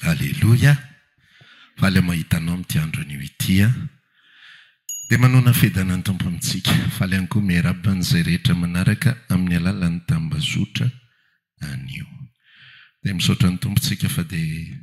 Aleloia! Faly aho mahita anao amin'ity andro anio ity an! Dia manonona fiadanana ny Tompo amintsika. Faly ihany koa miarahaba an'izay rehetra manaraka amin'ny alalan'ny tambazotra anio. Dia misaotra ny Tompo isika fa dia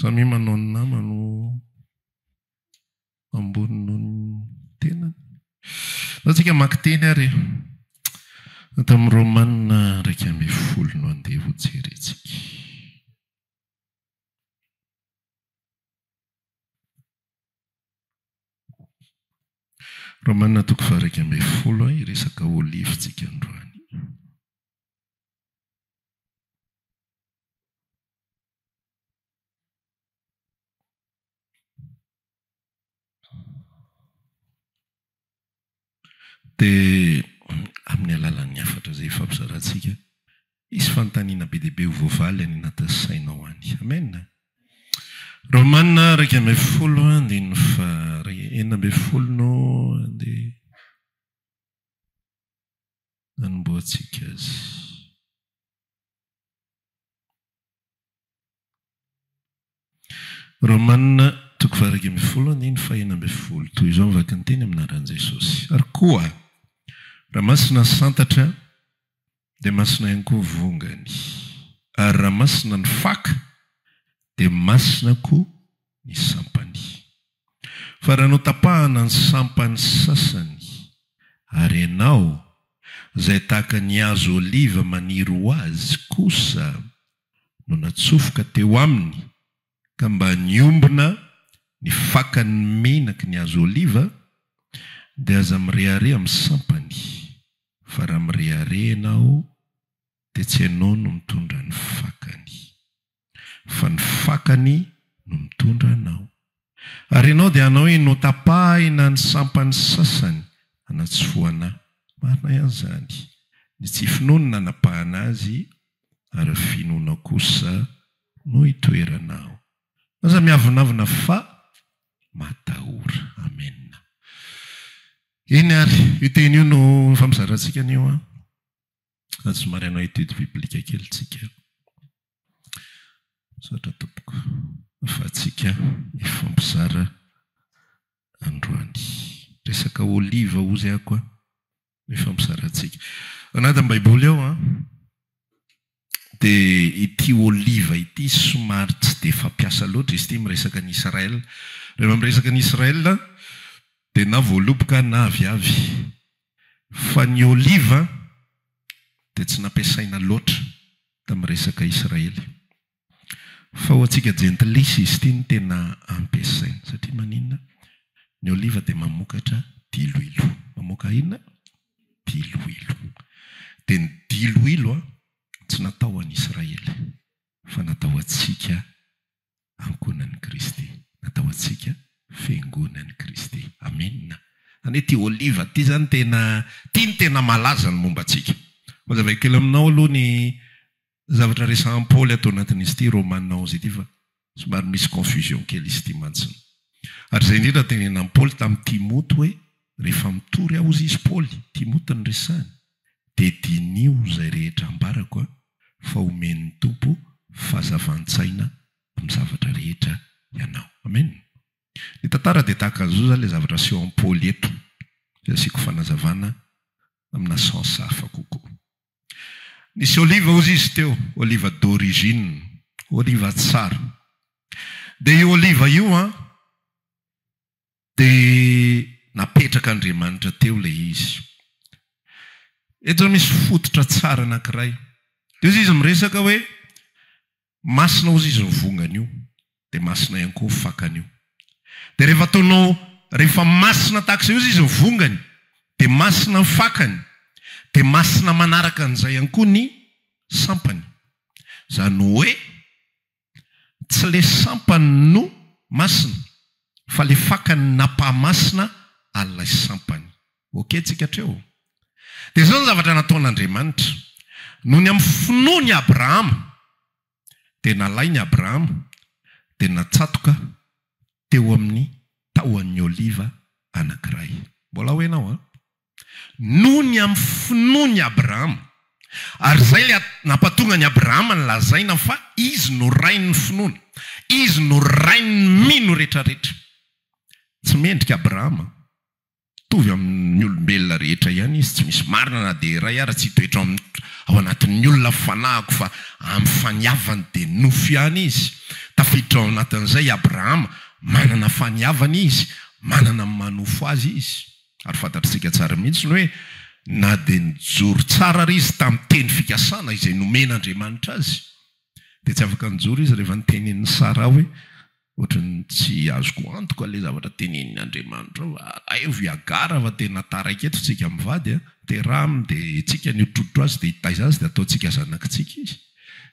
Samia manao ny namany ho ambony noho ny tenany. Izao isika maka teny ary e. Ato amin'ny Romana iraika ambin'ny folo no andeha hojerentsika. Romana toko faha-iraika ambin'ny folo, hiresaka olive isika androany. Dia amin'ny alalan'ny hafatra izay hifampizarantsika, hisy fanontaniana be dia be ho voavaly any anatin'ny sainao any. Amena. Romana iraika ambin'ny folo andininy faha enina ambin'ny folo no andeha hanombohantsika azy. Romana toko fahairaika ambin'ny folo andininy fahena ambin'ny folo, Toy izao ny vakinteny amin'ny anaran'i Jesosy. Ary koa, raha masina ny santatra, dia masina ihany koa ny vongany, ary raha masina ny faka, dia masina koa ny sampany. Fa raha notapahana ny sampany sasany, ary ianao, izay tahaka ny hazo oliva maniry ho azy, kosa no natsofoka teo aminy, ka mba niombona ny fakan' ny menaky ny hazo oliva, dia aza mirehareha amin'ny sampany, fa raha mirehareha ianao, dia tsy ianao no mitondra ny fakany. fa ny fakany no mitondra anao. Ary ianao dia hanao iny, hotapahina ny sampany sasany hanatsofohana. Marina ihany izany. Ny tsy finoany no nanapahana azy, ary finoanao kosa no hitoerana ao. Aza miavonavona fa matahora. Amena. Eny ary, io teny io no efa mizara antsika anio an. Fa somary hanao étude biblique kely tsika. Misaotra tompoko afahantsika mifampizara androany. Resaka olive ozy ako a! Mifampizarantsika. Ao anatin'ny baiboly ao an, dia ity olive ity somary tsy dia fampiasa loatra izy ity miresaka an'i Israël. Rehefa miresaka an'i Israël dia na voaloboka na aviavy. Fa ny oliva dia tsy nampiasaina loatra tamin'ny resaka Israely. Fa ho antsika jentilisa izy ity no tena ampiasaina. Satria maninona? Ny oliva dia mamokatra diloilo. Mamoaka inona? Diloilo. Dia ny diloilo tsy natao ho an'Israely fa natao ho antsika ankohonan'i Kristy. Natao antsika fiangonan'i Kristy. Amena. Izany hoe ity oliva ity izany tena, ity no tena malaza ny momba antsika. Hazavaiko kely aminao aloha ny zavatra resahan'i Paoly ato anatin'izy ity Romana onze ity fa somary misy confusion kely izy ity mantsiny. Ary izay indrindra no tenenan'i Paoly tamin'i Timoty hoe rehefa mitory aho hozy izy, Paoly, Timoty no resahiny, dia diniho izay rehetra ambarako a, fa omen'ny Tompo fahazavan-tsaina amin'ny zavatra rehetra ianao. Amen. Ny tantara dia tahaka an'izao izany ilay zavatra aseho an'i Paoly eto, izay asiako fanazavana amina sens hafa kokoa. Nisy oliva hozy izy teo, oliva d'origine, oliva tsara. Dia io oliva io an, Dia napetraka Andriamanitra teo ilay izy. Eto izao misy fototra tsara anankiray. Dia hoy izy miresaka hoe, masina hozy izy ny vongany io, dia masina ihany koa ny fakany io. Dia rehefa ataonao, rehefa masina tahaka izay hozy izy ny vongany, dia masina ny fakany, dia masina manaraka an'izay ihany koa ny sampany. Izany hoe, Tsy le sampany no masina fa le fakany napahamasina an'ilay sampany. Ok tsika hatreo? Dia zao ny zavatra nataon'Andriamanitra. Nony amin'ny finoany i Abrahama dia nalainy Abrahama dia natsatoka teo amin'ny tahon'ny oliva anankiray. Mbola ho henao an! Noho ny amin'ny finoany Abrahama. Ary izay ilay nampatonga an'i Abrahama nolazaina fa izy no rain'ny finoana. Izy no rain'ny mino rehetrarehetra. Tsy mendrika Abrahama. Mitovy amin'ny olombelona rehetra ihany izy, tsy misy marina na dia iray ara tsy hitoetra ao amin'ny ao anatin'ny olona fanahiko fa amin'ny faniavany dia nofo ihany izy. Tafiditra ao anatin'izay i Abrahama, manana faniavana izy, manana ny maha nofo azy izy. Ary fantatr'isika tsara mihitsy ny hoe na dia nijoro tsara ary izy tamin'ny teny fikasana izay nomen'Andriamanitra azy, dia tsy afaka nijoro izy rehefa notenenin'i Saraha hoe, Ohatran'ny tsy azoko antoka ilay zavatra tenenin'i Andriamanitra ao. Alaivo i Hagara fa tena taraiky eto isika mivady a! Teraha aminy dia hetsika ny hotrotrotra azy dia hitaiza azy dia hataontsika zanakitsika izy.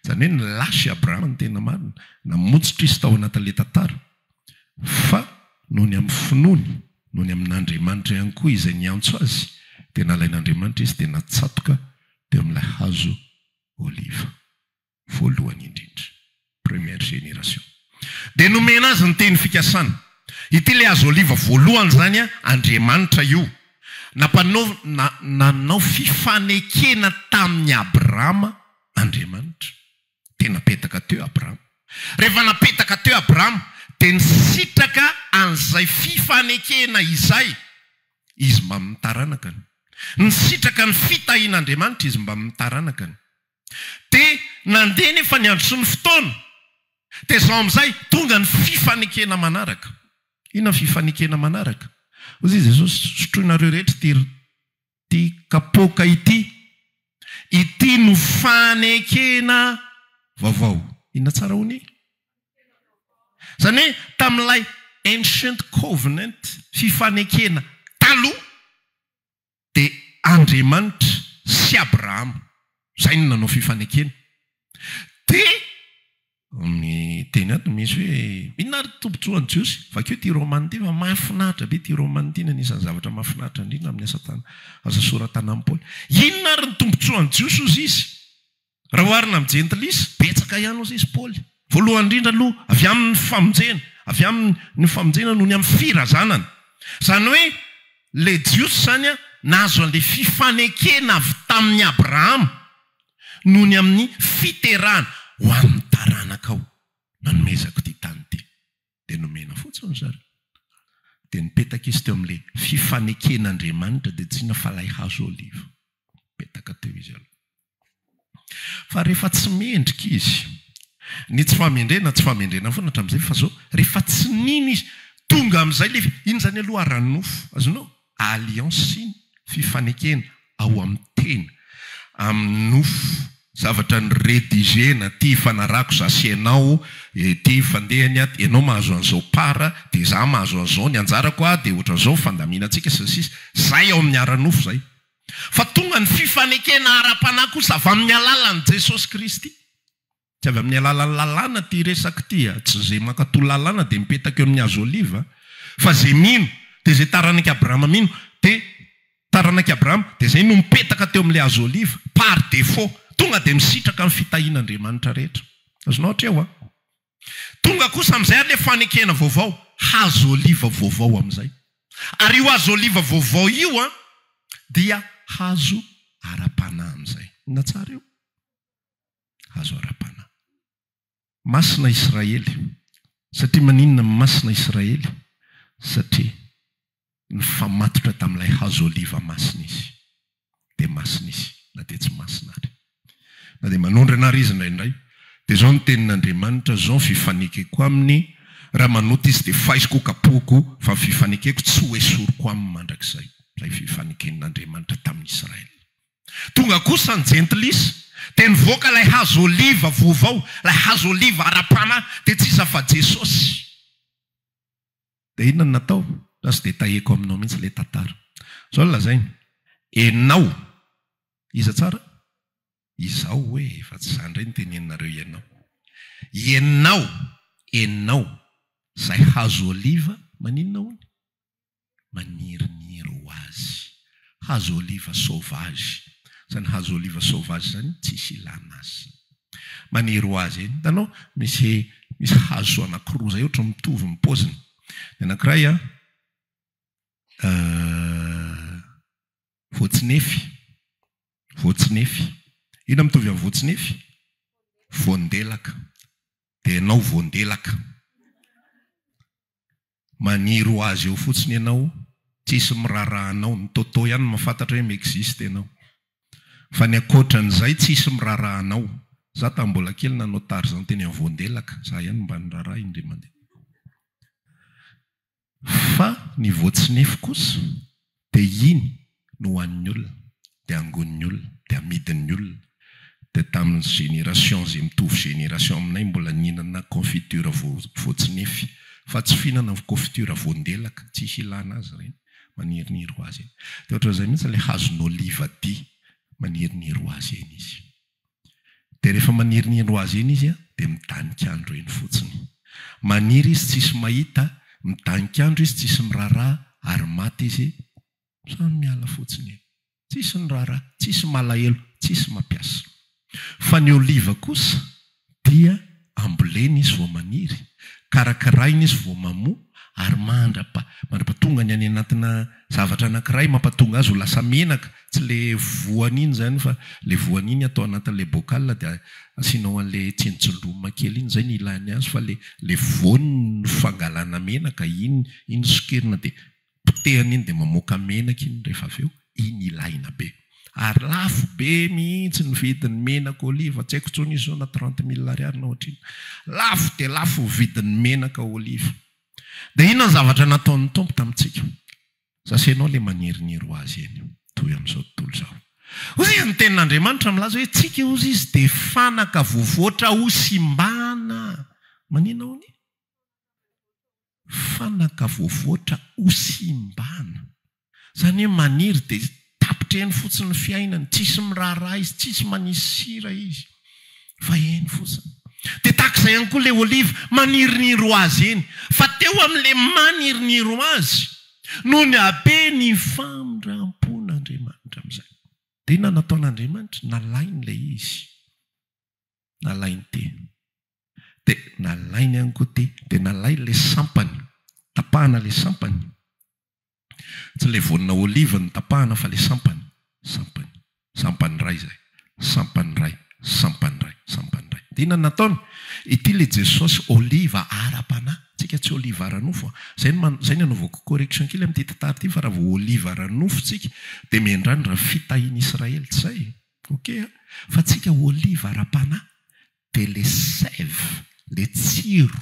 Izany hoe nilasy i Abrahama ny tena marina. Namotsitra izy tao anatin'ilay tantara. fa noho ny amin'ny finoany, noho ny amin'Andriamanitra ihany koa izay niantso azy, dia nalain'Andriamanitra izy dia natsatoka teo amin'ilay hazo oliva voalohany indrindra, première génération. Dia nomena azy ny teny fikasana. Ity ilay hazo oliva voalohany izany, Andriamanitra io nampanao, na, nanao fifanekena tamin'i Abrahama Andriamanitra. dia napetaka teo Abrama. Rehefa napetaka teo Abrama dia nisitraka an'izay fifanekena izay izy mbamin'ny taranakany. Nisitraka ny fitahian'Andriamanitra izy mbamin'ny taranakany. Dia nandeha anefa ny andro sy ny fotoana, dia izao amin'izay tonga ny fifanekena manaraka. Inona ny fifanekena manaraka? Hoy Jesosy, sotroinareo rehetra ity ity kapoaka ity. Ity no fanekena vaovao. Inona tsara hono i? Izany hoe tamin'ilay ancient covenant, fifanekena taloha, dia Andriamanitra sy Abrahama. Izay no nanao fifanekena. Dia. Ny teny ato misy hoe inona ary tombotsoan'ny Jiosy? Vakio ity romana ity fa mahafinaritra be ity romana ity ny anisan'ny zavatra mahafinaritra indrindra amin'ny asa tana asa soratanan'i Paoly. Inona ary ny tombotsoan'ny Jiosy hozy izy? Raha oharina amin'ny jentilisa, betsaka ihany hozy izy Paoly. Voalohany indrindra aloha avy amin'ny famonjena, avy amin'ny ny famonjena noho ny amin'ny firazanana. Izany hoe ilay Jiosy izany nahazo an'ilay fifanekena avy tamin'i Abrahama. noho ny amin'ny fiterahana ho an'ny taranakao. Nanomezako ity tany ity. Dia nomena fotsiny ry zareo. Dia nipetaka izy teo amin'ilay fifaneken'Andriamanitra, dia tsy inona fa ilay hazo oliva. Nipetaka teo izy aloha. Fa rehefa tsy mendrika izy, ny tsy fahamendrena, tsy fahamendrena foana hatramin'izay, fa izao, rehefa tsy nino izy, tonga amin'izay ilay, iny izany aloha ara-nofo, azonao? Alliance, fifanekena ao amin'ny tena, amin'ny nofo, zavatra ni-rediger-na, ty ifanarahako za sy ianao, ty ifandehany ato, ianao mahazo an'izao part dia za mahazo an'izao, ny anjarako a dia ohatran'izao ny fandaminantsika sy ny sisa, zay ao amin'ny ara-nofo zay. Fa tonga ny fifanekena ara-panahy kosa avy amin'ny alalan'i Jesosy Kristy. Tsy avy amin'ny alalan'ny lalàna ity resaka ity a! Tsy izay mankatò lalàna dia mipetaka eo amin'ny hazo oliva fa izay mino dia izay taranak'i Abrahama mino dia taranak'i Abrahama dia izay no mipetaka teo amin'ilay hazo oliva par défaut. Tonga dia misitraka ny fitahian'Andriamanitra rehetra. Azonao atreo a! Tonga kosa amin'izay ary ilay fanekena vaovao, hazo oliva vaovao amin'izay. Ary io hazo oliva vaovao io a, dia hazo ara-panahy amin'izay. Inona tsara io? hazo ara-panahy. Masina Israely. Satria maninona masina Israely? Satria nifamatotra tamin'ilay hazo oliva masina izy. Dia masina izy, na dia tsy masina ary. Na dia manondrana ary izy indraindray. Dia izao ny tenin'Andriamanitra, izao ny fifanekeko aminy, Raha manota izy, dia faiziko, kapohiko, fa ny fifanekeko tsy hoesoriko aminy mandrakizay. Izay fifaneken'Andriamanitra tamin'i Israely. Tonga kosa ny Jentilisa, dia nivoaka ilay hazo oliva voavao, ilay hazo oliva ara-panahy, dia tsy iza afa Jesosy. Dia inona no natao? Za tsy dia tahiako aminao mihitsy ilay tantara. Zao no lazainy, Enao, iza tsara? Izaho hoe e, fa tsy za indray no teneninareo ianao. Ianao, enao, izay hazo oliva maninona hono? maniriniry ho azy. Hazo oliva sauvage. Zany hazo oliva sauvage zany tsisy ilana azy zany. Maniry ho azy. Hitanao misy misy hazo anankiroa zay ohatry ny mitovy ny paoziny. Ny anankiray a voatsinefy, voatsinefy. Inona mitovy amin'ny voatsinefy? Voandelaka. Dia ianao voandelaka. Maniry ho azy eo fotsiny ianao tsisy miraraha anao, ny Toto ihany mahafantatra hoe mi-existe ianao. Fa ny ankoatran'izay tsisy miraraha anao. Za tamin'ny mbola kely nanao Tarzan teny amin'ny voandelaka, za ihany mba niraraha indray mandeha. Fa ny voatsinefy kosa Dia iny no hohanin'ny olona, dia angonin'ny olona, dia amidin'ny olona. Dia tamin'ny génération izay mitovy génération aminay mbola nihinana confiture voatsinefy, fa tsy fihinana confiture voandelaka, tsy hilana azy ireny, maniriniry ho azy eny. Dia ohatran'izay mihitsy ilay hazon'oliva dia maniriniry ho azy eny izy. Dia rehefa maniriniry ho azy eny izy an, dia midanika andro eny fotsiny. Maniry izy tsisy mahita, midanika andro izy tsisy miraharaha, ary maty izy, samy miala fotsiny eny. Tsisy niraharaha, tsisy malahelo, tsisy mampiasa. Fa ny oliva kosa Dia ambolena izy vao maniry, karakaraina izy vao mamoa, ary mandrapa, mandrapa tonga ny any anatina zavatra anankiray mampatonga azy ho lasa menaka, tsy ilay voany iny izany fa ilay voany iny atao anatin'ilay bocal dia asianao an'ilay tsinontsindromina kely iny, izay no ilàny azy fa ilay ilay voany no fangalana menaka iny, iny sokirina dia potehana iny dia mamoaka menaka iny rehefa avy eo, iny ilaina be. Ary lafo be mihitsy ny vidin'ny menaka oliva, tsy haiko intsony izy zao na trente mille ariary na ohatr'inona. Lafo dia lafo ny vidin'ny menaka oliva. Dia inona ny zavatra nataon'ny Tompo tamintsika? Sasenao ilay maniriniry ho azy eny, toy amin'izao tontolo izao. Hoy izy, ny Tenin'Andriamanitra milaza hoe, Tsika, hozy izy, dia fanaka voavoatra hosimbana. Maninona hono? Fanaka voavoatra hosimbana. Izany hoe maniry dia tapitra eny fotsiny ny fiainany, tsisy miraharaha izy, tsisy manisy sira izy fa eny fotsiny. Dia tahaka izay ihany koa ilay oliva, maniriniry ho azy eny. Fa teo amin'ilay maniriniry ho azy no nihabe ny famindrampon'Andriamanitra amin'izay. Dia inona no nataon'Andriamanitra? Nalainy ilay izy. Nalainy ty. Dia nalainy ihany koa ty. Dia nalainy ilay sampany. Tapahana ilay sampany. Tsy ilay voanina olive no tapahana fa ilay sampany. Sampany. Sampany iray izay. Sampany iray. Sampany iray. Sampany iray. Dia inona no nataony? Ity ilay Jesosy oliva ara-panahy. Tsika tsy oliva ara-nofo. Izay no izay no anaovako correction kely amin'ity tantara ity fa raha vao oliva ara-nofo tsika dia miandrandra fitahian'Israely. Tsy izay? Ok a! Fa tsika oliva ara-panahy dia le sève, le tsiro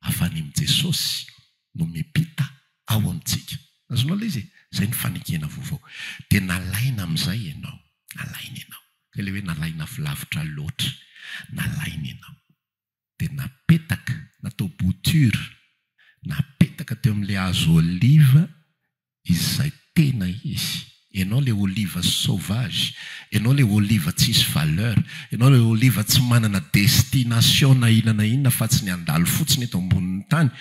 avy any amin'i Jesosy no mipita ao amintsika. Azonao ilay izy e? Izay ny fanekena vaovao. Dia nalaina amin'izay ianao. Nalaina ianao. Izay ilay hoe nalaina avy lavitra loatra. Nalaina ianao. dia napetaka, natao bouture, napetaka teo amin'ilay hazo oliva izay tena izy. Ianao ilay oliva sauvage, ianao ilay oliva tsisy valeur, ianao ilay oliva tsy manana destination na inona na inona afa-tsy ny handalo fotsiny eto ambonin'ny tany,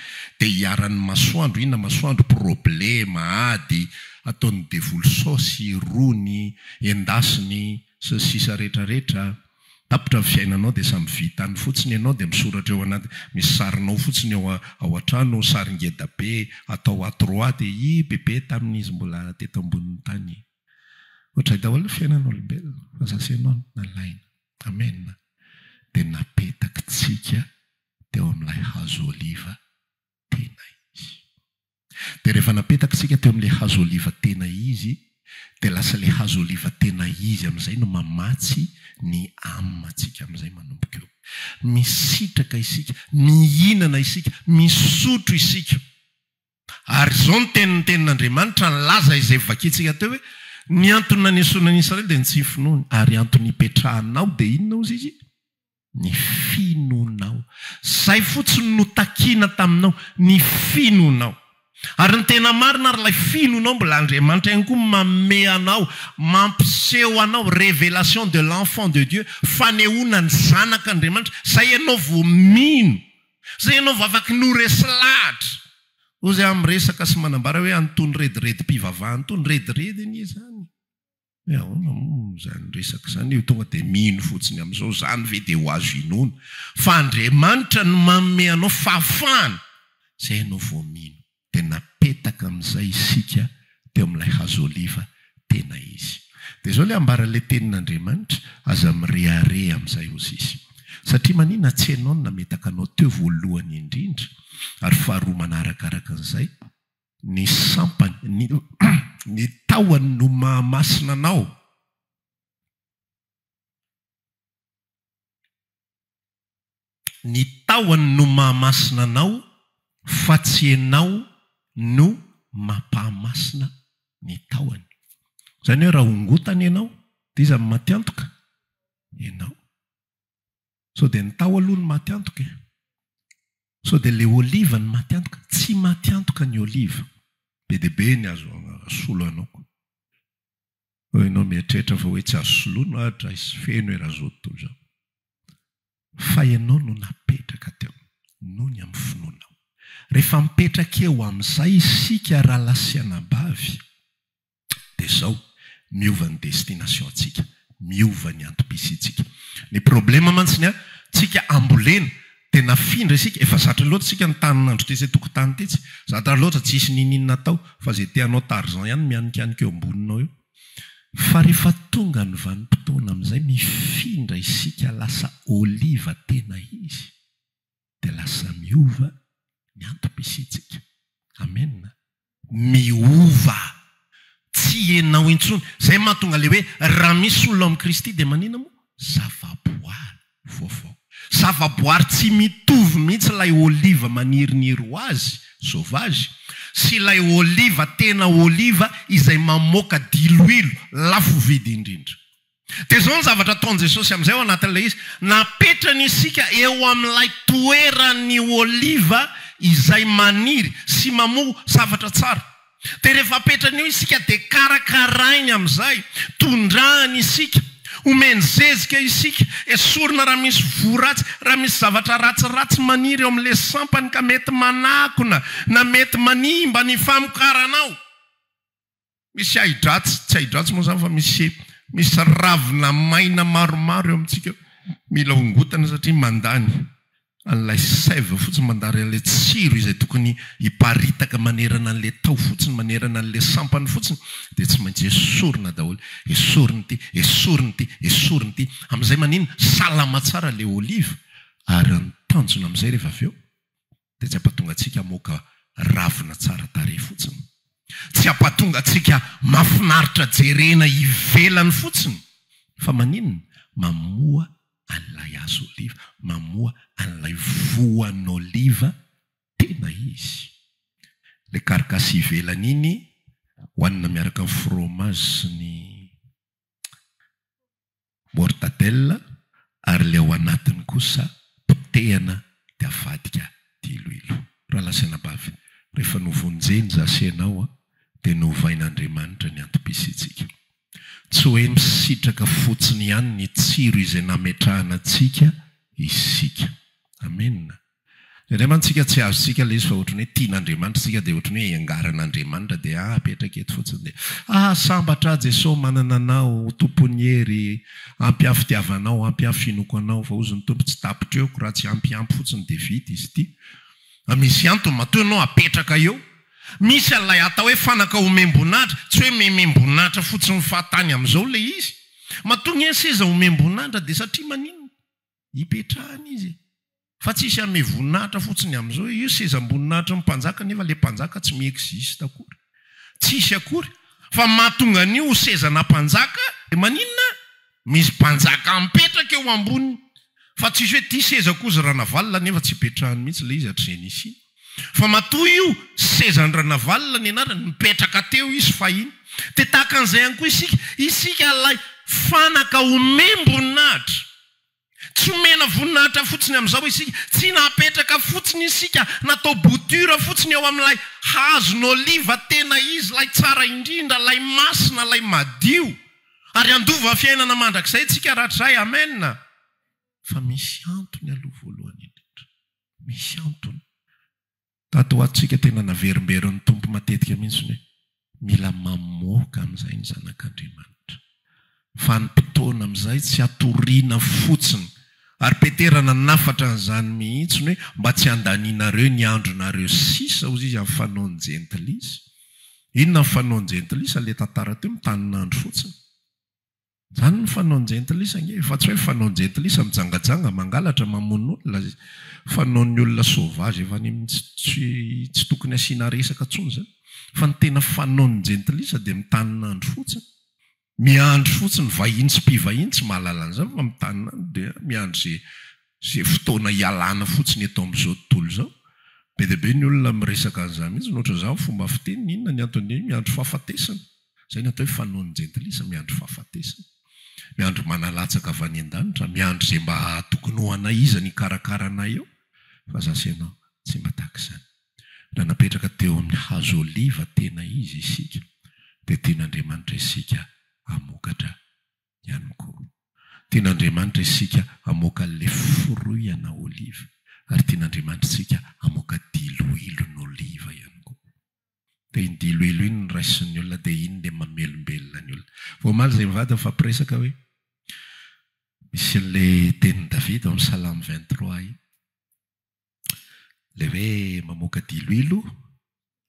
dia hiharan'ny masoandro, inona masoandro, problema, ady, ataon'ny devoly saosy, rony, endasiny, sy ny sisa rehetra rehetra. Tapitra ny fiainanao dia samy vitany fotsiny ianao dia misoratra eo anaty misy sarinao fotsiny eo ao an-trano saringeda be atao à trois dia i bebe tamin'ny izy mbola teto ambonin'ny tany ohatray daholo ny fiainan'olombelona fa za sy ianao no nalaina amen dia napetaky tsika teo amin'ilay hazo oliva tena izy. Dia rehefa napetaka isika teo amin'ilay hazo oliva tena izy, dia lasa ilay hazo oliva tena izy amin'izay no mamatsy ny âme antsika amin'izay manomboka eo. Misitraka isika, mihinana isika, misotro isika. Ary izao ny tenin'ny Tenin'Andriamanitra nilaza izay vakintsika teo hoe, Ny antony nanesoana an'i Israely dia ny tsy finoany, ary antony ipetrahanao dia inona hozy izy? Ny finoanao. Izay fotsiny no takiana taminao, ny finoanao. Ary ny tena marina ary ilay finoanao mbola Andriamanitra ihany koa manome anao, mampiseho anao, révélation de l'enfant de Dieu, fanehoana ny zanak' Andriamanitra, izay ianao vao mino, izay ianao vao afaky ny ho resy lahatra. Hoy aho miresaka sy manambara hoe an'itony rediredim-pivavahana itony, rediredy anie izany. Hoe ahoana moa izany resaka izany io, tonga dia mino fotsiny amin'izao, izany ve dia ho azo inoana? Fa Andriamanitra no manome anao fahafahana, izay ianao vao mino. Dia napetaka amin'izay isika teo amin'ilay hazo oliva, tena izy. Dia izao ilay ambaran'ilay Tenin'Andriamanitra, Aza mirehareha amin'izay, hozy izy. Satria manina, tsy ianao no nametaka anao teo voalohany indrindra, ary faharoa manaraka araka an'izay, Ny sampany, ny, ny tahony no mahamasina anao. Ny tahony no mahamasina anao fa tsy ianao no mampahamasina ny tahony. Izany hoe raha hongotana ianao, dia iza no matiantoka? Ianao. Sao dia ny tao aloha no maty antoka e? Sao dia ilay oliva no maty antoka? Tsy maty antoka ny oliva. Be dia be ny azo asolo anao. Sao ianao mieritreritra fa hoe tsy azo soloina ho'a drais feno e razoto toa izao. Fa ianao no napetraka teo, noho ny amin'ny finoanao. Rehefa mipetraka eo amin'izay isika rahalahisianabavy, dia izao, miova ny destination ntsika, miova ny antom-pisiantsika. Ny problema mantsy ny an, tsika ambolena, dia nafindra isika, efa zatra loatra isika nitanin'andro tetsy an-tokotany tetsy, zatra loatra tsisy niniana atao, fa izay te hanao tarzan ihany mianikanika eo amboninao eo. Fa rehefa tonga ny vanim-potoana amin'izay mifindra isika lasa oliva tena izy. dia lasa miova ny antom-pisiantsika. Amena. Miova. Tsy ianao intsony. Izay mahatonga ilay hoe, raha misy olona ao amin'i Kristy dia maninona moa? Zava-boary vaovao. Zava-boary tsy mitovy mihitsy ilay oliva maniriniry ho azy, sauvage, sy ilay oliva tena oliva izay mamoaka diloilo lafo vidy indrindra. Dia izao ny zavatra ataon'i Jesosy amin'izay ao anatin'ilay izy, napetrany isika eo amin'ilay toeran'ny oliva izay maniry sy mamoa zavatra tsara. Dia rehefa apetrany eo isika dia karakarainy amin'izay, tondrahany isika, omeny zezika isika, esorina raha misy voa ratsy, raha misy zavatra ratsiratsy maniry eo amin'ilay sampany ka mety manakona na mety manimba ny famokaranao. Misy ahidratsy, tsy ahidratsy moa izany fa misy misy ravina maina maromaro eo amintsika eo. Mila hongotana satria mandany an'ilay sève fotsiny, mandany an'ilay tsiro izay tokony hiparitaka manerana an'ilay taho fotsiny, manerana an'ilay sampany fotsiny, dia tsy maintsy esorina daholo. Esorina ity, esorina ity, esorina ity. Amin'izay maninona? Salama tsara ilay oliva ary ny tanjona amin'izay rehefa avy eo, dia tsy hampatonga antsika moka ravina tsara tarehy fotsiny, tsy hampatonga antsika mafinaritra jerena ivelany fotsiny, fa maninona? Mamoa an'ilay hazo oliva, mamoa an'ilay voan'oliva tena izy. Ilay carcasse ivelany iny hohanina miaraka amin'ny fromage sy ny mortadelle, ary ilay ao anatiny kosa potehana dia avadika diloilo. Rahalasanabavy, rehefa novonjeny za sy ianao dia novain'Andriamanitra ny antom-pisiantsika. Tsy hoe misitraka fotsiny ihany ny tsiro izay nametrahana antsika isika. Amena. Indraindray mantsy isika tsy azontsika ilay izy fa ohatran'ny hoe tian'Andriamanitra isika dia ohatran'ny hoe iangaran'Andriamanitra dia apetraka eto fotsiny dia ah sambatra aho Jesosy manana anao ho tompon'ny hery ampy aho fitiavanao ampy aho finoako anao fa hozy ny Tompo tsy tapitreoko raha tsy ampy ampy fotsiny dia vita izy ity fa misy antony matoa ianao apetraka eo misy an'ilay atao hoe fanaka omem-boninahitra tsy hoe memem-boninahitra fotsiny fahatany amin'izao ilay izy matoa ny seza omem-boninahitra dia satria maninona Hipetrahana izy e! Fa tsy hisy hanome voninahitra fotsiny amin'izao e! Io sezam-boninahitry ny mpanjaka nefa ilay mpanjaka tsy mi-existe akory. Tsy hisy akory. Fa mahatonga an'io ho sezana mpanjaka dia maninona? Misy mpanjaka mipetraka eo amboniny. Fa tsy hisy hoe ity sezako hozy Ranavalona nefa tsy hipetrahany mihitsy ilay izy hatrizay nisiany. Fa matoa io sezan-dRanavalona ny anarany, nipetraka teo izy fahiny. Dia tahaka an'izay ihany koa isika, isika ilay fanaka omem-boninahitra. Tsy omena voninahitra fotsiny amin'izao isika, tsy napetraka fotsiny isika, natao bouture fotsiny eo amin'ilay hazon'oliva tena izy ilay tsara indrindra, ilay masina, ilay madio. Ary handova fiainana mandrakizay isika rahatrizay. Amen! Fa misy antony aloha voalohany indrindra. Misy antony. Tato ho ato isika tena naverimberin'ny Tompo matetika mihitsy ny hoe mila mamoaka amin'izay ny zanak'Andriamanitra. Vanim-potoana amin'izay tsy hatoriana fotsiny. Ary Petera nanafatra an'izany mihitsy ny hoe mba tsy handanianareo ny andronareo sisa, hozy izy, amin'ny fanaon'ny jentilisa. Inona ny fanaon'ny jentilisa? Ilay tantara teo, mitanin'andro fotsiny. Zany ny fanaon-jentilisa ange e! Fa tsy hoe fanaon-jentilisa mijangajanga, mangalatra, mamono olona, fanaon'ny olona sauvage efa any amin'ny tsy tokony asiana resaka intsony zany. Fa ny tena fanaon'ny jentilisa dia mitanin'andro fotsiny, miandry fotsiny vahiny sy mpivahiny, tsy mahalala an'izany fa mitanin'andro dia miandry ze ze fotoana hialana fotsiny eto amin'izao tontolo izao. Be dia be ny olona miresaka an'izany mihitsy, ohatran'izaho fomba fiteniny, inona ny anton'iny, miandry fahafatesana. Izay no atao hoe fanaon'ny jentilisa, miandry fahafatesana, miandry mana latsaka avy any an-danitra, miandry izay mba hahatokinao anay iza no hikarakara anay eo, fa za sy ianao tsy mba tahaka izany. Raha napetraka teo amin'ny hazo oliva tena izy isika, dia tian'Andriamanitra isika hamokatra ihany koa. Tian'Andriamanitra isika hamoaka an'ilay foroiana oliva, ary tian'Andriamanitra isika hamoaka diloilon'oliva ihany koa. dia ny diloilo iny no raisin'ny olona dia iny ilay mamelombelona ny olona. Vao omaly izay mivady nifampiresaka hoe misy an'ilay tenin'i Davida ao amin'ny Salamo vingt trois iny. Ilay hoe mamoaka diloilo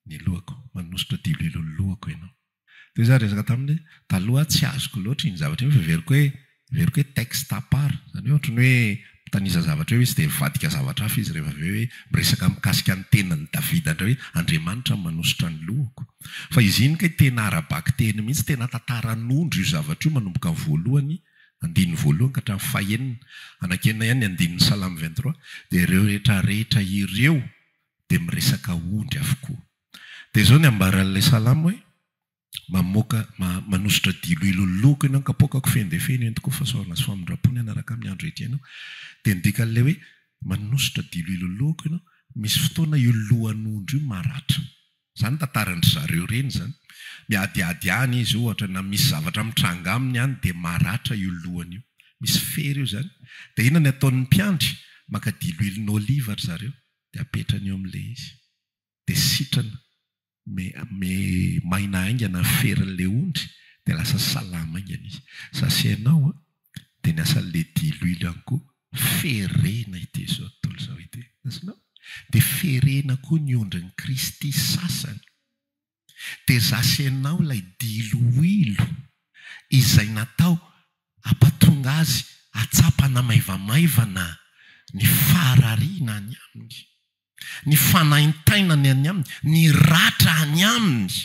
ny lohako, manosotra diloilo ny lohako ianao. Dia izaho niresaka taminy taloha, tsy azoko loatra iny zavatra iny fa heveriko hoe heveriko hoe texte à part, izany hoe ohatran'ny hoe mitanisa zavatra eo izy dia mivadika zavatra hafa izy rehefa avy eo hoe miresaka mikasika ny tenin'i Davida indray hoe Andriamanitra no manosotra ny lohako. Fa izy iny kay tena ara-bakiteny mihitsy, tena tantaran'ondry io zavatra io manomboka amin'ny voalohany, andininy voalohany ka hatramin'ny fahenina. Anaky enina ihany ny andininy Salamo vingt trois. Dia ireo rehetra rehetra ireo dia miresaka ondry avokoa. Dia izao ny ambaran'ilay salamo hoe, Mamoaka, ma, manosotra dilo hiloliloko ianao, ny kapoakako feno dia feno entiko ho fahasoavana sy famindram-po ny hanaraka amin'ny andro hiatrehana ahy. Dia ny dikan'ilay hoe, manosotra dilo hiloliloko ianao, misy fotoana io lohan'ondry io maratra. Izany tantaran-dry zareo ireny izany. Miadiady any izy ohatra na misy zavatra mitranga aminy any dia maratra io lohany io. Misy fery io izany. Dia inona ny ataon'ny mpiandry? Maka dilo hilon'oliva ry zareo dia apetrany eo amin'ilay izy. dia sitrana me me maina haingana ny ferin'ilay ondry dia lasa salama haingana izy. Sasy hainao an, dia ny asan'ny le diloilo ihany koa ferena ity izao tontolo izao ity. Azonao? Dia ferena koa ny ondrin'i Kristy sasany. Dia zasy hainao ilay diloilo izay natao hampatonga azy hahatsapa ana maivamaivana ny faharariana any aminy. ny fanaintainany any aminy, ny ratra any aminy.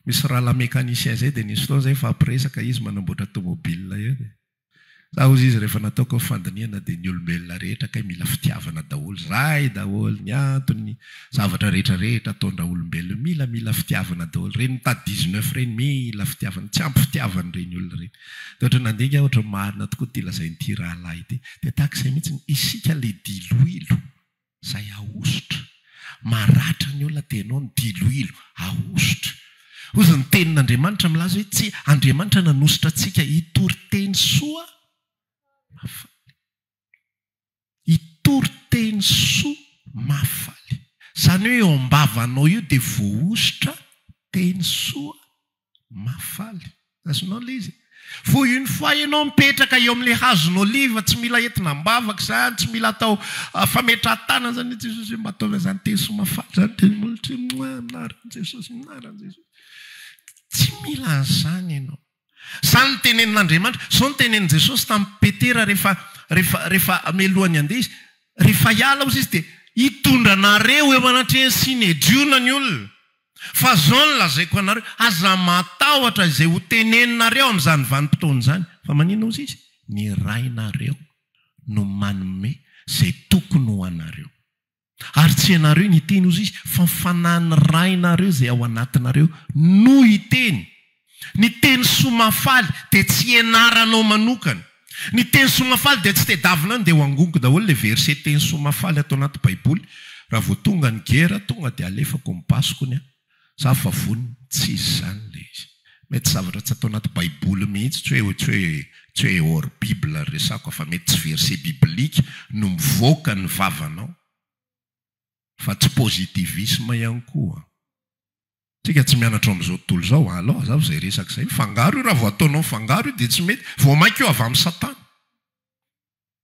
Misy rahalahy mécanicien zay dia nisy fotoana zay fa mpiresaka izy manamboatra tomobile eo dia za ozy izy rehefa nataoko ny fandinihana dia ny olombelona rehetra kay mila fitiavana daholo, izay daholo ny antony, zavatra rehetra rehetra ataondra olombelona mila mila fitiavana daholo, ireny mitady dix neuf ireny mila fitiavana, tsy ampy fitiavana ireny olona ireny. Dia ohatra nandinika aho ohatra marina tokoa ity lazain'ity rahalahy ity. Dia tahaka izay mihitsy ny isika ilay diloilo izay ahosotra. Maratra ny olona dia ianao ny diloilo ahosotra. Hozy ny tenin'Andriamanitra milaza hoe tsy Andriamanitra nanosotra antsika hitory teny soa mahafaly. Hitory teny soa mahafaly. Izany hoe eo am-bavanao io dia voahosotra teny soa mahafaly. Azonao ilay izy e? Vao une fois ianao mipetraka eo amin'ilay hazon'oliva, tsy mila entina am-bavaka izany, tsy mila atao fametrahan-tanana izany hoe Jesosy ô mba ataovy an'izany teny soa mahafaly izany dia molotra eo, Moa, amin'ny anaran'i Jesosy, amin'ny anaran'i Jesosy. Tsy mila an'izany ianao. Izany no tenenin'Andriamanitra. Izao no tenenin'i Jesosy tamin'i Petera rehefa rehefa rehefa mialohan'ny handeha Izy, Rehefa hiala osa Izy dia hitondra anareo eo anatrehany sy nediona ny olona. Fa izao no lazaiko anareo, aza matahotra izay ho teneninareo amin'izany vanim-potoana izany. Fa maninona osa Izy? Ny Rainareo no manome izay tokony ho anareo. Ary tsy ianareo niteny, hozy Izy, fa ny Fanahin'ny Rainareo izay ao anatinareo no hiteny. Ny teny soa mahafaly dia tsy ianaranao manokana. Ny teny soa mahafaly dia tsy tedavina any dia ho angoniko daholo ilay verset teny soa mahafaly ato anaty baiboly raha vao tonga ny gera tonga dia alefako ny basiko ny ahy. Za fa vonona, tsy izy izany ilay izy. Mety zavatra tsy ato anaty baiboly mihitsy, tsy hoe tsy hoe tsy hoe hors bible resako a, fa mety tsy verset biblique no mivoaka ny vavanao, fa tsy positivisme ihany koa an. Tsika tsy mianatra ao amin'izao tontolo izao an, alou azafy izay resaka izay, mifangaro io, raha vao ataonao mifangaro io dia tsy mety, vao mainka io avy amin'i satana.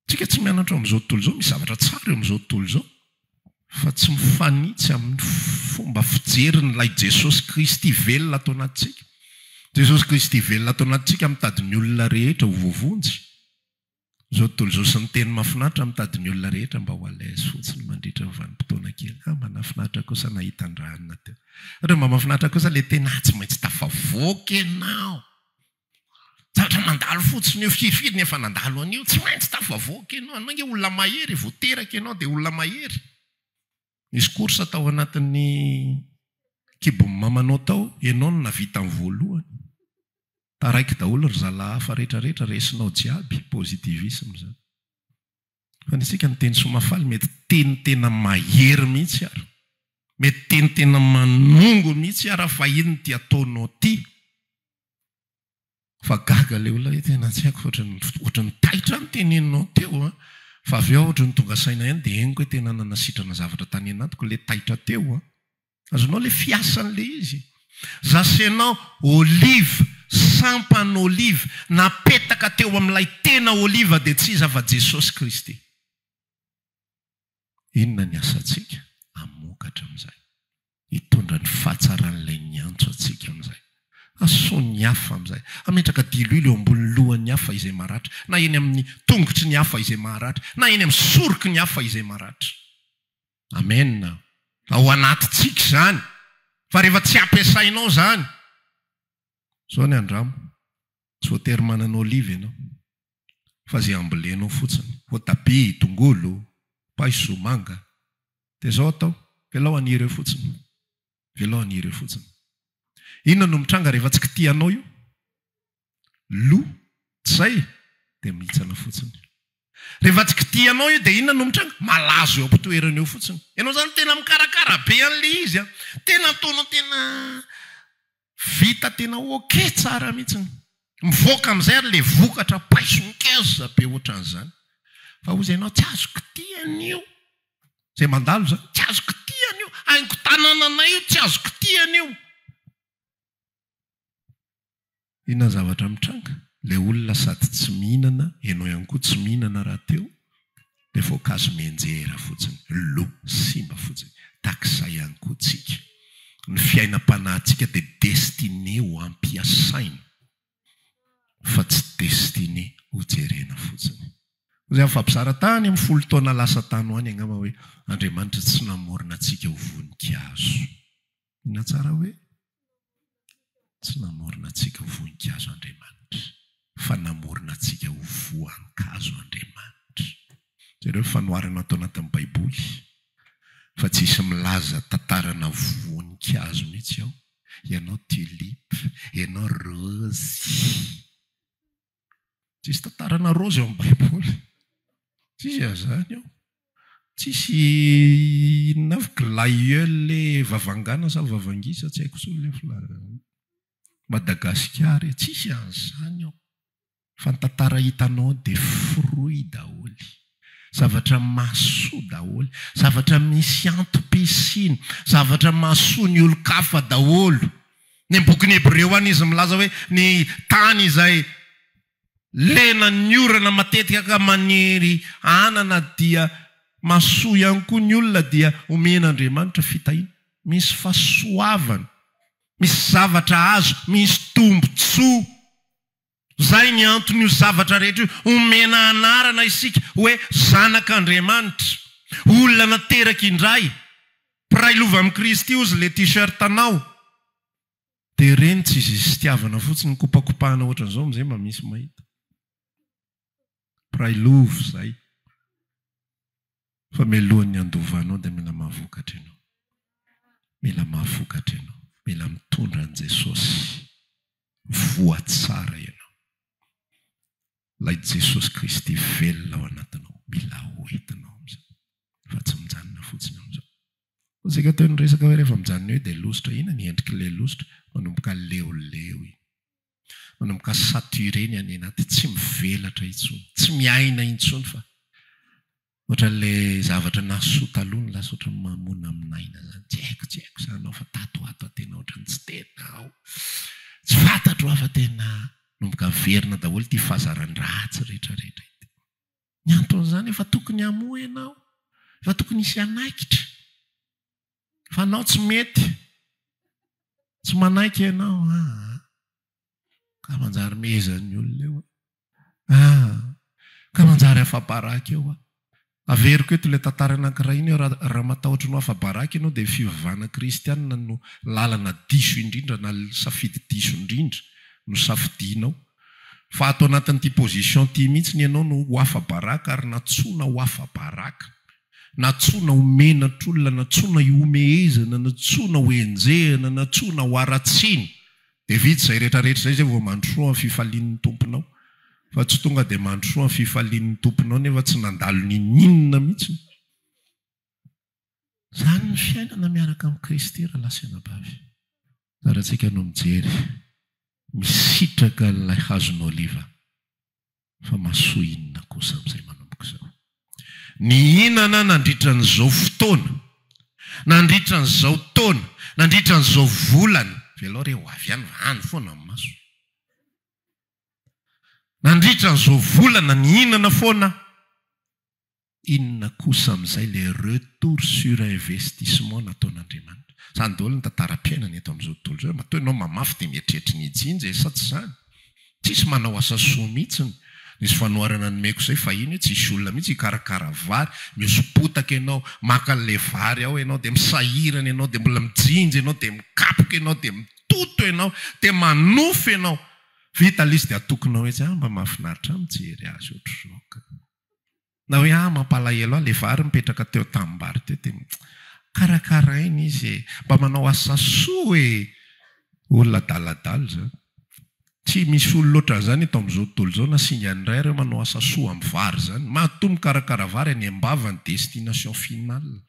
Tsika tsy mianatra ao amin'izao tontolo izao, misy zavatra tsara eo amin'izao tontolo izao fa tsy mifanitsy amin'ny fomba fijerin'ilay Jesosy Kristy velona ato anatintsika. Jesosy Kristy velona ato anatintsika mitady ny olona rehetra ho voavonjy. Izao tontolo izao sy ny teny mahafinaritra mitady ny olona rehetra mba ho à l'aise fotsiny mandritra ny vanim-potoana kely. Ah, mba nahafinaritra kosa nahita an-dRahana teo. Ohatra mba mahafinaritra kosa ilay teny, ah, tsy maintsy tafavoaka ianao! Zavatra mandalo fotsiny io, firy firy ny efa nandalo an'io, tsy maintsy tafavoaka ianao, anao nge olona mahery, vao teraka ianao dia olona mahery. Nisy course tao anatin'ny kibon'ny mamanao tao, ianao no nahavita ny voalohany. Taraiky daholo ry zalahy hafa rehetra rehetra, resinao jiaby, positivisme zany. Fa ny antsika ny teny soamafaly mety teny tena mahery mihitsy ary, mety teny tena manongo mihitsy ary fa inona ity ataonao ity? Fa gaga le olona io tena tsy haiko fa ohatran'ny ohatran'ny taitra ny teneninao teo a, fa avy eo aho ohatran'ny tonga saina ihany dia henoko hoe tena nanasitrana zavatra tany anatiko le taitra teo a. Azonao le fiasan'le izy? Zasenao olive, sampan'olive napetaka teo amin'ilay tena olive dia tsy iza fa Jesosy Kristy. Inona ny asantsika? Hamokatra amin'izay. Hitondra ny fahatsaran'ilay niantso antsika amin'izay. Hasoa ny hafa amin'izay. Hametraka diloilo eo ambonin'ny lohan'ny hafa izay maratra, na eny amin'ny tongotry ny hafa izay maharatra, na eny amin'ny soroky ny hafa izay maratra. Amena. Ao anatintsika izany. Fa rehefa tsy ampiasainao izany. Izao ny andramo. Tsy voatery manana olive ianao fa ze ambolenao fotsiny, voatabia, tongolo, paiso, manga, dia zao atao, velao haniry eo fotsiny, velao haniry eo fotsiny. Inona no mitranga rehefa tsy kitihanao io? Lo, tsy zay? Dia mihitsana fotsiny. Rehefa tsy kitihanao io dia inona no mitranga? Malazo eo am-pitoerany eo fotsiny. Ianao zany tena mikarakara be an'le izy an! Tena ataonao tena Vita tena ok tsara mihitsy ny. Mivoaka amin'izay ary ilay vokatra paiso ngeza be ohatran'izany. Fa hozy ianao tsy azoko tia an'io. Izay mandalo izany, tsy azoko tia an'io. Haingon-tanananay io, tsy azoko tia an'io. Inona ny zavatra mitranga? Ilay olona sady tsy mihinana, ianao ihany koa tsy mihinana rahateo. Dia voankazo mianjera fotsiny, lo, simba fotsiny. Tahak'izay ihany koa tsika. Ny fiainam-panahintsika dia destiné ho ampiasaina fa tsy destiné ho jerena fotsiny. Hoy izany fampizara tany amin'ny folo taona lasa tany ho any angamba hoe, Andriamanitra tsy namorona antsika ho voninkazo. Inona tsara hoe? Tsy namorona antsika ho voninkazo Andriamanitra, fa namorona antsika ho voankazo Andriamanitra. Jereo fanoharana ato anatin'ny Baiboly fa tsy hisy milaza tantarana voninkazo mihitsy ao, ianao tulipe, ianao rose. Tsisy tantarana raozy ao amin'ny Baiboly. Tsisy azany ao. Tsisy inona avy glaïeul le vavangana sa vavangisa tsy haiko tsony le fla Madagasikara e, tsisy an'izany ao. Fa ny tantara hitanao dia fruit daholo. Zavatra mahasoa daholo. Zavatra misy antom-pisiany. Zavatra mahasoa ny olon-kafa daholo. Ny amin'ny bokin'ny Hebreo any izy milaza hoe ny tany izay lenan'ny orana matetika ka maniry anana dia mahasoa ihany koa ny olona dia omen'Andriamanitra fitahiana. Misy fahasoavana. Misy zavatra azo. Misy tombontsoa. Izay ny anton'io zavatra rehetra io, omena anarana isika hoe zanak'Andriamanitra, olona nateraka indray, mpiray lova amin'i Kristy ozy ilay t-shirt anao. Dia ireny tsy izy izy fitiavana fotsiny, mikopakopahana ohatran'izao amin'izay mba misy mahita. mpiray lova izay fa mialohan'ny handovanao dia mila mahavokatra ianao, mila mahavokatra ianao, mila mitondra an'i Jesosy, voa tsara ianao, ilay Jesosy Kristy velona ao anatinao mila ho hitanao amin'izao fa tsy mijanona fotsiny amin'izao. Isika toy ny resaka hoe rehefa mijanona eo dia lositra, inona ny endrik'ilay lositra? Manomboka leoleo iny. manomboka saturé ny any anaty, tsy mivelatra intsony, tsy miaina intsony fa ohatran'ilay zavatra nahasoa taloha ny lasa ohatran'ny mamonamonaina izany, tsy haiko, tsy haiko izany ao fa tato ho ato aho tena ohatran'ny tsy tena ao, tsy fantatro aho fa tena manomboka miverina daholo ity fazaran-dratsy rehetrarehetra ity. Ny anton'izany efa tokony hamoa ianao, efa tokony hisy hanaikitra. Fa anao tsy mety. Tsy manaiky ianao. Ah, ka manjary mehezan'ny olona eo. Ah, ka manjary afa-baraka eo. Averiko eto ilay tantara anankiray iny eo, raha matahotra ny ho afa-baraka ianao dia ny fivavahana kristianina no lalana diso indrindra na safidy diso indrindra no safidianao. Fa ato anatin'ity position ity mihitsy ianao no ho afa-baraka ary nantsoina ho afa-baraka. Nantsoina ho menatr'olona, nantsoina hihomehezana, nantsoina ho enjehina, nantsoina ho haratsiana. Dia vita izay rehetrarehetra izay izay vao mandrosoa ny fifalian'ny tomponao. Fa tsy tonga dia mandrosoa ny fifalian'ny tomponao nefa tsy nandalo n'inon'inona mihitsy. Izany ny fiainana miaraka amin'i Kristy ry lahy sy anabavy. Tsara tsika no mijery. Misitraka an'ilay hazon'oliva. Fa mahasoa inona kosa amin'izay manomboka izao? Nihinana nandritra an'izao fotoana, nandritra an'izao taona, nandritra an'izao volana. Velao re ho avy ihany fa any foana ny maso. Nandritra an'izao volana nihinana foana aho. Inona kosa amin'izay ilay retour sur investissement nataon'Andriamanitra? Izany daholo ny tantaram-piainana eto amin'izao tontolo izao. Matoa ianao mamafy dia mietrehetra ny hijinja e, sa tsy izany? Tsisy manao asa soa mihitsiny. Nisy fanoharana nomeko izay fahiny hoe tsisy olona mihitsy hikarakara vary, mihoso-potaka ianao, maka an'ilay vary ao ianao, dia misahirana ianao, dia mbola mijinja ianao, dia mikapoka ianao, dia mitoto ianao, dia manofy ianao. Vita ilay izy dia atokinao etsy, ah mba mahafinaritra ahy mijery azy ohatr'izao kay. Na hoe ah mampalahelo ahy le vary mipetraka teo an-tanimbary teo de karakaraina izy e! Mba manao asa soa e! Olona adaladala izany. Tsy misy olona ohatran'izany eto amin'izao tontolo izao na singa ny iray ary hoe manao asa soa amin'ny vary izany. Matoa mikarakara vary any am-bava ny destination finale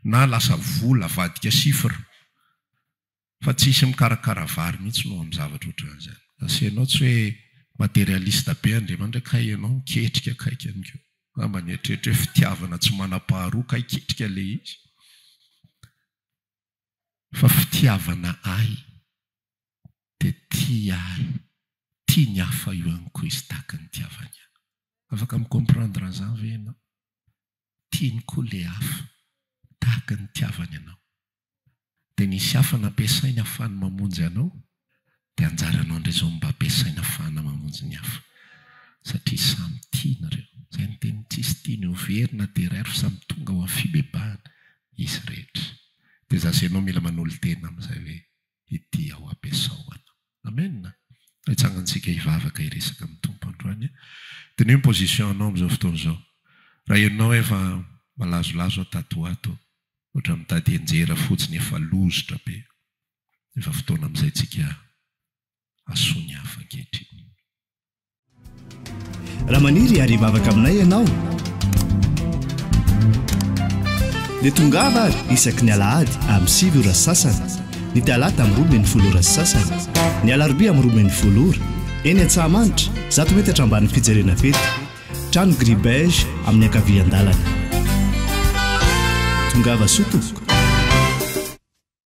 na lasa vola avadika chiffre. fa tsy hisy mikarakara vary mihitsy noho amin'ny zavatra ohatran' izany. Asa ianao tsy hoe materialiste be Andriamanitra kay ianao miketrika kay ka amiko. Angamba nieritreritra hoe fitiavana tsy manam-paharoa kay ketrika ilay izy. Fa fitiavana ahy dia tia ahy, tia ny hafa ihany koa izy tahaka ny nitiavany ahy. Afaka mi-comprendre an'izany ve ianao? tiany koa le hafa tahaka ny nitiavany anao. Dia nisy hafa nampiasainy hahafahany mamonjy anao, dia anjaranao indray izao mba ampiasaina hahafahana mamonjy ny hafa. Satria samy tia nareo. Izay miteny ny tsisy tiany ho very na dia iray ary fa samy tonga ho amin'ny fibebahana izy rehetra. Dia za sy ianao mila manolo-tena amin'izay hoe. ity ao ampiasao ana. Amen! Hitsangantsika hivavaka hiresaka amin'ny Tompo androany. Diniho ny position anao amin'izao fotoana izao. Raha henonao hoe efa malazolazo aho tato ho ato, ohatran'ny mitady henjera fotsiny efa lozotra be, efa fotoana amin'izay tsika hasoa ny hafa ankehitriny. Raha maniry hiary hivavaka aminay ianao, dia tongava ary isaky ny alahady amin'ny sivy ora sy sasany, ny talata amin'ny roa ambin'ny folo ora sy sasany, ny alarobia amin'ny roa ambin'ny folo ora, eny Antsahamanitra, zato metatra ambanin'ny fijerena fety, trano gris beige amin'ny ankavian-dalana. Tongava soa tompoko.